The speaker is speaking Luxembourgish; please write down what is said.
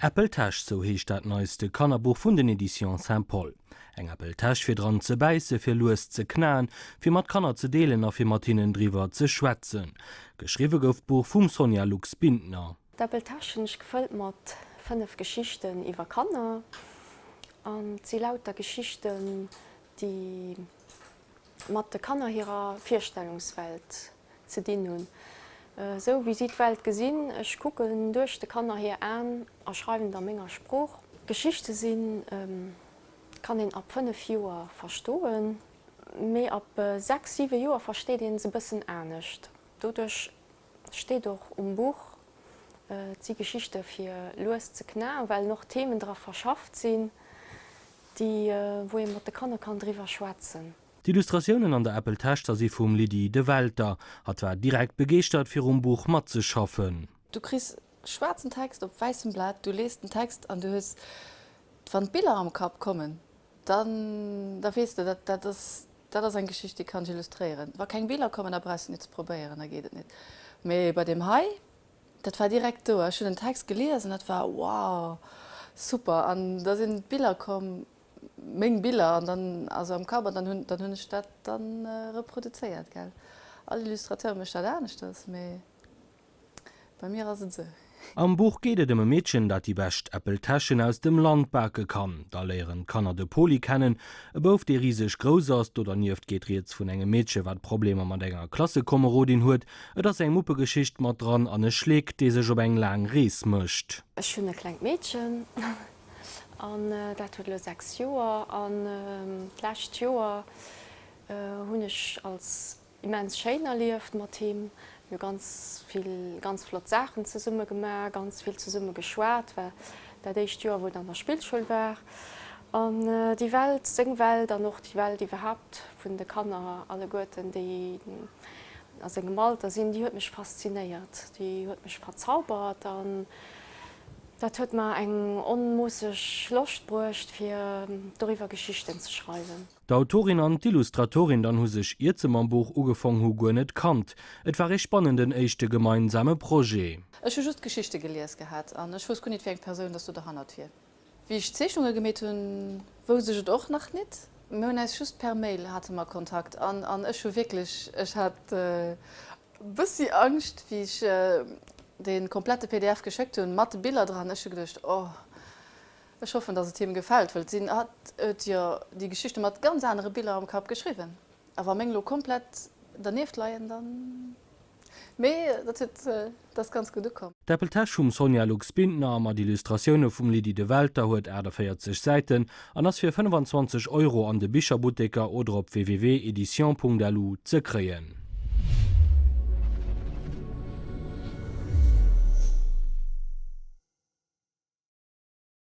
Äppeltäsch, sou heescht dat neiste Kannerbuch vun den Editions Saint Paul. Eng Äppeltäsch fir dran ze bäisse, fir lues ze knaen, fir mat Kanner ze deelen a fir mat hinnen driwwer ze schwätzen. Geschriwwe gouf d'Buch vum Sonja Lux-Bintner. D'Äppeltäschen ass gefëllt mat 5 Geschichten iwwer Kanner an et si lauter Geschichten déi. mat de Kanner hirer Virstellungswelt ze dinn hunn, esou wéi si d'Welt gesinn. Ech kucken duerch de Kanner hir Aen a schreiwen et a menger Sprooch. Geschichte sinn, kann een ab 5 Joer verstoen, mee ab 6, 7 Joer versteet een se e bëssen anescht. Doduerch Steet och um Buch. Et si Geschichte fir lues ze knaen, well och Themen dra verschafft sinn, déi wou ee mat de Kanner kann driwwer schwätzen. D'Illustratiounen an der Apple Taschza si vum Lydie De Welter. Hatt war direkt begeeschtert fir um Buch matzeschaffen. Du kriss schwaarzen Text op wäissem Blat, du lees den Text an du hues, wann d'Biller am Kapp kommen, dann da weess de, dat ass Dat ass eng Geschicht, déi kann ech illustréieren. Wa keng Biller kommen, da brauchs de net ze probéieren, da geet et net. Mee bei deem hei, dat war direkt do. Ech hunn den Text gelies an dat war, wow, super. An da sinn d'Biller komm, meng Biller, an dann also am Kapp, an dann hunn ech dat da reproduzéiert. Gell, all Illustrateur mécht dat aneschters, mee Bei mir ass et esou. Am Buch geet et ëm e Meedchen, dat déi bescht Äppeltäschen aus dem Land bake kann. Da léieren d'Kanner de Poli kennen, e Bouf, dee riseg grouss ass. Do dernieft geet rieds vun engem Meedche, wat Problemer mat enger Klassekomerodin huet. Et ass eng Muppegeschicht mat dran an e Schleek, dee sech op eng laang Rees mécht. Ech hunn e klengt Meedchen an dat huet elo 6 Joer. An d'lescht Joer hunn ech als immens schéin erlieft mat him, mir hu ganz vill ganz flott Saachen zesumme gemaach, ganz vill zesumme geschwat, war dat éischt Joer wou en an der Spillschoul war an déi Welt, seng Welt an och déi Welt iwwerhaapt vun de Kanner alleguerten déi a sengem Alter sinn, déi huet mech faszinéiert, déi huet mech verzaubert an dat huet mer eng onmoosseg Loscht bruecht fir doriwwer Geschichten ze schreiwen. D'Autorin an d'Illustratorin dann hu sech, iert se mam Buch ugefong hu, guer net kannt. Et war ee spannenden éischte gemeinsame Projet. Ech hu just d'Geschichte gelies gehat an ech wousst guer nit, wéi eng Persoun dass do derhannert wier. Wéi ech d'Zeechnunge gemeet hunn, wousst ech et och nach nit. Mir hunn äis just per Mail, hate mer Kontakt an an ech hu wierklech, ech hat bëssi Angscht, wéi ech dee komplette pdf geschéckt hunn, mat de Biller dran. Ech hu geduecht, oh. Ech hoffen dass et him gefällt, wëll d'Sinn hat et jo déi Geschichte mat ganz anere Biller am Kapp geschriwwen, a wa meng lo komplett dernieft leien dann, mee dat huet, dat ass ganz gutt ukomm. D'Äppeltäsch vum Sonja Lux Bintner mat Illustratioune vum Lydie de Welter huet 48 Säiten an ass fir 25 Euro an de Bicherbutteker oder op www.editions.lu ze kréien.